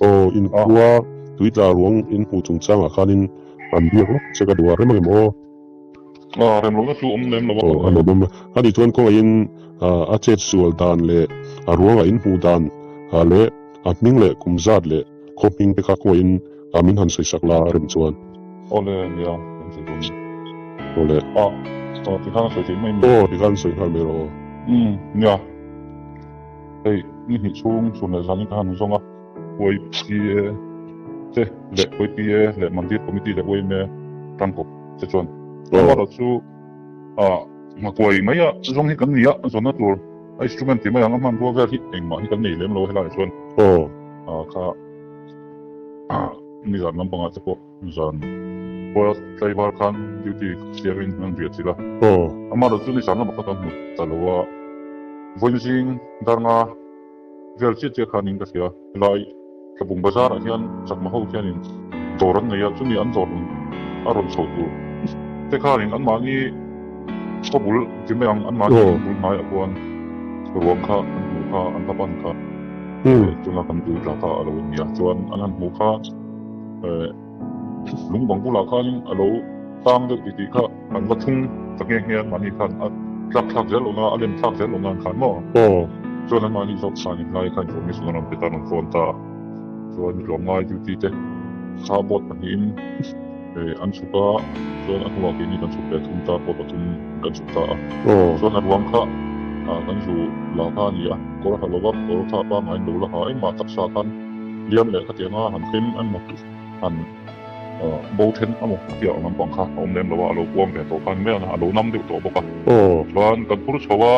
Aw in khua tui tla ruang in hmuh chung changah khanin an biak lawk che ka duh a rem rem aw. Aw rem rem a chu awm lem lo a. Aw a nawm em. A ni chuan kawngaihin a chet sual dan leh a ruangah in hmuh dan leh a hming leh kum zat leh. Khaw hming te kha khuai in ah min han sawi sak la a rem chuan. Aw le nia kan ti dun. Aw le. Ah. Aw ti khan a sawi theih mai nia. Aw ti khan sawi nghal mai rawh. Umm nia. Hei ni hnih chhung chhun leh zan in ka han zawng a. Khuaipi e te leh khuaipi e leh mandir committee leh uaim e tangkaw te chuan. Aw. Ram erawh chu. A hmakuai mai a, chu zawng hi kan ni a, a zawnna tur a instrument tih mai ang a hman rua vel hi engmah hi kan nei lem lo a helaiah chuan. Aw. A kha mi zan lampangah te pawh zan khual tlaivar khan duty siamin an bia chilh a. Aw. Amaherawhchu ni zan lama kha kan hmu ta lo a, vawiin zing darnga. Vel chiah chiah khanin ka hria. Helai Thlabung Bazar ah hian chakma ho hianin dawr an nei a, chumi an dawr rawn a rawn chhoh tur te khanin anmahni chaw bul ti mai ang anmahni in bul hnaiah khuan ruang kha an hmuh kha an la pan kha. Tuna kan duh tla kha a lo ni a, chuan an han hmuh kha. Lungpang bulah khanin a lo tlang deuh ti ti kha an va thung ta nge nge an mahni khan a tlak thlak zel awm a, a lem thlak zel awm nan khan maw? Aw. Chuan an mahni zawk chhan in ngai kha in zawm nison a rawn pe tan a rawn fawn ta a. Chuan mitluam ngai duty te kha boat pahnih in an chhuk a, chuan a hnuah keini kan chhuk leh thum ta pawh pathum in kan chhuk ta a. Chuan a ruang kha kan zu la kha a ni a, kawr a ha lo vak, kawr kha a pangngai in lo la ha engmah taksa khan. Biam leh kha tianga han tling an mak han bo then a maw tia lampang kha a awm lem lo a, a lo puang ve tawh khan miah a lo nam deuh tawh bawk a. Chuan kan phur chho a,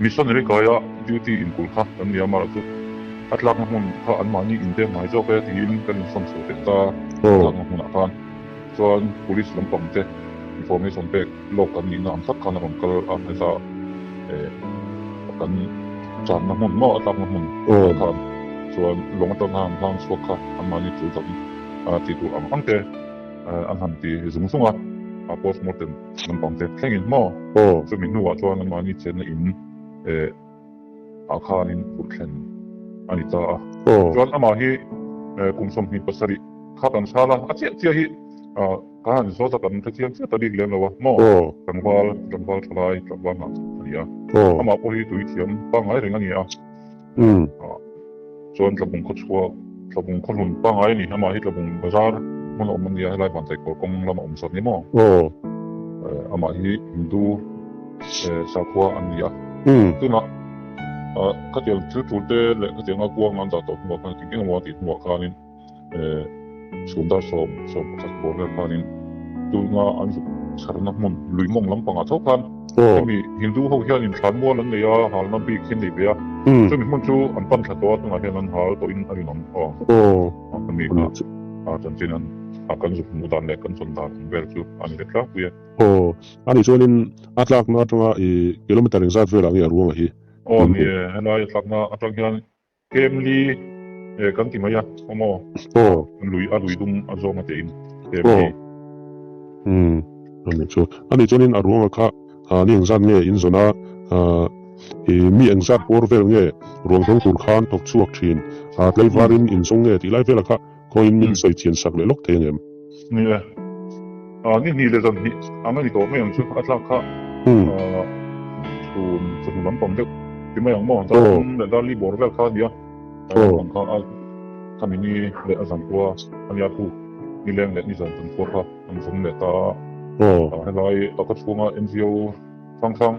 missionary kaia duty inkulh kha kan ni a, Mara chu a tlakna hmun kha anmahni in bek ngai zawk e tiin kan insawn chho teh ta, a tlakna hmunah khan. chuan police lampang te information pek lawk kan nihna ang tak khan a rawn kal a hmasa a, eh kan channa hmun maw a tlakna hmun te khan chuan lawng atanga an hlang chhuak kha anmahni chu dam a ti tur ang ang te eh an han ti zung zung a, a postmortem lampang te thlengin maw chumi hnuah chuan anmahni chenna in eh. a khanin purh thlen a ni ta a. Chuan amah hi kum sawmhnih pasarih kha kan chhal a, a chiah chiah hi Khan zawtah kan hrethiam chiah ta bik lem lo a maw? Tlangval, tlangval thalai, tlangval hnah a ni a, amah pawh hi tui thiam pangngai reng a ni a. Chuan Tlabung khaw chhuah Tlabung khaw hlun pangai a ni. Amah hi Tlabung bazar hmun a awm a nia, helai Vantai kawr kawng lamah awm zawt ni maw? Aw. Amah hi Hindu sakhua an ni a. Tunah khatial thil tul te leh khatial ngakuang an dah tawh hnuah khan engemaw a tih hnuah khanin. Chhumdar sawm sawm pakhat bawr vel khanin tuna an zuk chharna hmun luimawng lampangah chauh khan hemi Hindu ho hianin thlanmual an nei a, halna bik hi an nei ve a, chumi hmun chu an pan tha tawh a, tunah hian an hal tawhin a rinawm aw. Hemi kha a chan chin an kan zuk hmuh dan leh kan chawn dan vel chu a ni ve tlangpui a. Aw, a nih chuan in a tlakna atanga kilometre engzat velah nge a ruang a hi? Aw ni e, helai a tlakna atang hian Family e kan ti mai a awmaw aw lui a lui dum a zawng ate in family hmm ani chu ani chuan in a ruanga kha a ni engzat nge in zawn a a i mi engzat bawr vel nge ruang zawng tur khan thawk chhuak thin a tlaivar in in zawng nge tih lai vel a kha Khawiin min sawi thian sak leh lawk thei ang em? Ni e. Aaa, ni hnih leh zan hnih ang a ni tawh mai ang chu, a tlak kha chhun chawhnu lampang deuh ti mai ang maw? Zan leh darli bawr vel kha a ni a, lampang kha a khami ni leh a zan khua a nia thu, ni leng leh ni zan zan khua kha an zum leh ta a, helai a ka chhunga NGO hrang hrang.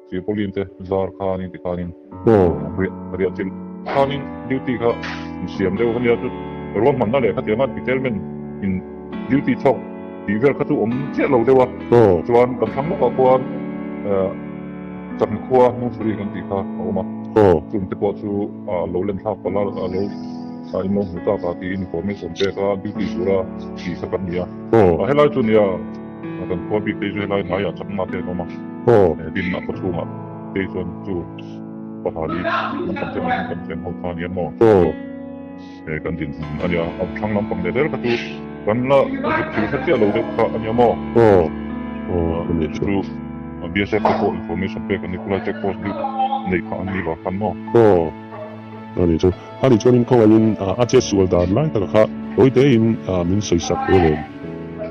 Chu Pauline te zar khan inti khanin Paul a hriat a hriat chilh khanin duty kha in siam deuh a nia. Chu rual hmanna leh khatia ngan Peterman in duty chhawk tih vel kha chu awm chiah lo deuh a. Paul chuan kan thlang lawkah khuan chakna khua Munsuri kan tih kha a awm a. Paul chu mite pawh chu a lo len thlak palh a, a lo in lo hmu tak a tiin information pek a duty tura tih kha kan ni a. Paul a helai chu nia. A kan khual bik te zela hnai ah chakna te an awm a, e din a paw chhung ah kei chuan chu pahal hi an tam chen ang, an tam chen ho kha nia maw? E kan din hman a nia, a thlang lampang leh ber kha chu kan la zut thil kha chiah lo deuh kha ania maw? Chu chu BSF te pawh information pek an ni, khulai check post bik neih kha an ni lo khan maw? A nih chuan in kho angin a che sual dan lai taka kha tawi te in min sawi sak ve ve.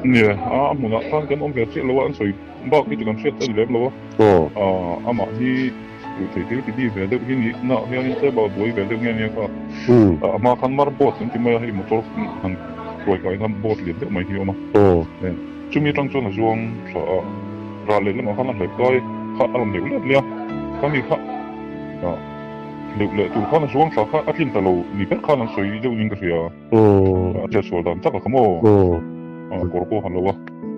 Ni e, a hmunah khan kan awm ve chiah lo a, an sawi bak hi chu kan hriat a ni lem lo a. Amah hi hmuh theih thil ti di ve deuh hi nih na hianin table buai ve deuh nge nia kha. Amah khan mar boat kan ti mai a, hei motor han hruai kai na boat lian deuh mai hi a awm a. Chumi atang chuan a zuang thla a, ral leh lamah khan a hlep kai kha a rawn deuh lep nia. Khami kha. Hleuk leh tur khan a zuang tha kha a tlin ta lo ni ber khan an sawi deuh ning ka hria. A chhiat sual dan tak a kha maw? A kawr pawh han lo a,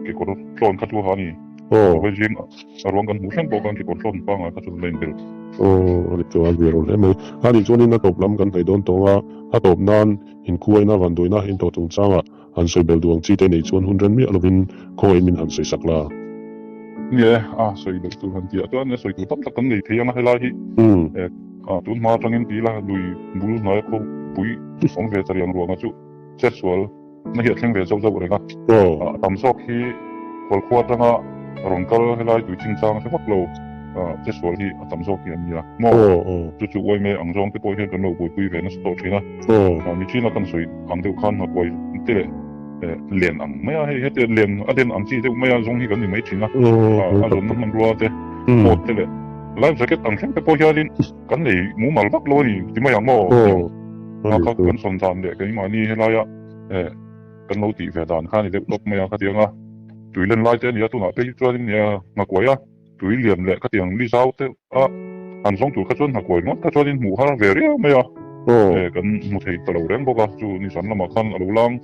kekawr tlawn kha chu a ha a ni. Vawlei zing a ruang kan hmuh thleng pawh khan kekawr tlawn panga kha chu a la inbel. A ri chuan ve run em e. Khani chuan in a tawp lam kan hnaih dawn tawng a, a tawp nan in khuaina vanduina in tawh chung changa. Han sawi bel duh ang chi te nei chuan hun ren miah lovin khawngaih min han sawi sak la. Nge a sawi bel tur han ti ah chuan sawi tur tam tak kan nei thei ang a helai hi eh. A tun hma atangin ti ila lui bul hnuaia khawpui awm ve chariang ruangah chu chet sual na hi a thleng ve zauh zauh reng a. A tam zawk hi khualkhua atanga rawn kal helai tui chingchang a hre vak lo. ah che sual hi a tam zawk hi a nia maw? Chu chu uai mai ang zawng te pawh hian kan lo buaipui ve nasa tawh thin a, ah nithin a kan sawi ang deuh khan hnakuai te leh eh len ang mai a, hei hete len a den ang chi deuh maia zawng hi kan ni mai thin a, ah a zawmna hmanrua te, coat te leh life jacket ang thleng te pawh hianin kan nei mumal vak lo a ni ti mai ang maw niawm? Hna kha kan sawn dan leh keimahni helaia eh kan lo tih ve dan kha a ni deuh tawp mai ang kha ti ang a, tui len lai te a ni a tunah phei hi chuan in nia hnakuai a. Tui liam leh ka ti ang mi zau te a an zawng tur kha chuan hna kuai luat kha chuan in hmuh har ve riau mai a eh kan hmu thei ta lo reng bawk a chu nihsan lamah khan a lo lang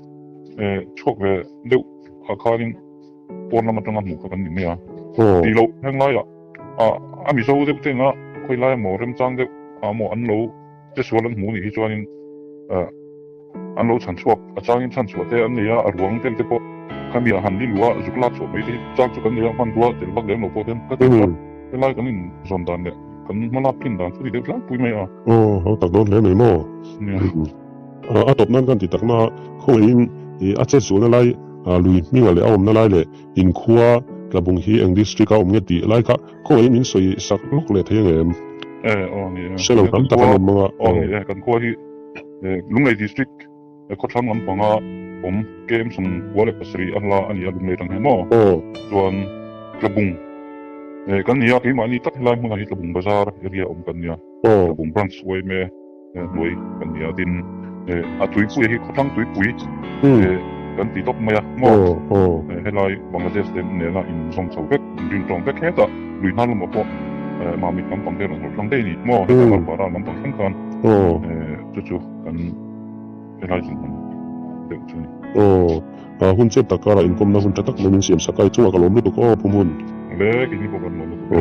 eh chhuak ve deuh ah khan in pawn lam atanga hmuh kha kan ni mai a ti lo heng lai ah a mizo deuh te in a khawi lai a maw remchang deuh ah a maw an lo Chasual an hmuh nih hi chuanin an lo chhan chhuak a changin chhan chhuah te an nei a, a ruang tel te pawh khami ah han li lu a, zuk lak chhuah mai te hi chang chu kan nei a, hmanrua tel vak lem lo pawh hian ka ti a, helai kan in zawn dan leh kan hma lak thin dan chu ti deuh tlang pui mai a. Aw, lo tak dawn hle mai maw? Nia. A tawp nan kan ti tak na khawngaihin i a chet zulna lai, lui hminga leh a awmna lai leh in khua tla bung hi eng district a awm nge tih lai kha, Khaw hi min sawi sak lawk leh thei ang em? Eh, aw ni e. Hre lo tam tak an awm mang a. Aw ni e, kan khua hi eh Lunglei District eh khawthlang lampanga awm kem sawng khua leh pasarih a hla a ni a Lunglei tang hian maw? Aw. Chuan Tlabung eh kan ni a, keimahni tak helai hmunah hi Tlabung Bazar area awm kan nia. Aw. Tlabung Branch uaim e. Hnuai kan ni a, tin a tuipui hi khawthlang tuipui kan ti tawp mai a, maw? Helai Bangladesh te nena inzawm chho vek, inril tawng vek hetah lui hna lamah pawh mah mit lampang vel an hawrh thlang daih a ni, maw? Heta Lar Bara lampang thlang khan chu chu kan helai zin hman deuh chu a ni. Aw, hun chet tak karah inkawmna hun tha tak lo min siam sak a, i chungah ka lawm lutuk aw, Phumhun. Leh, keini pawh kan lawm lutuk e.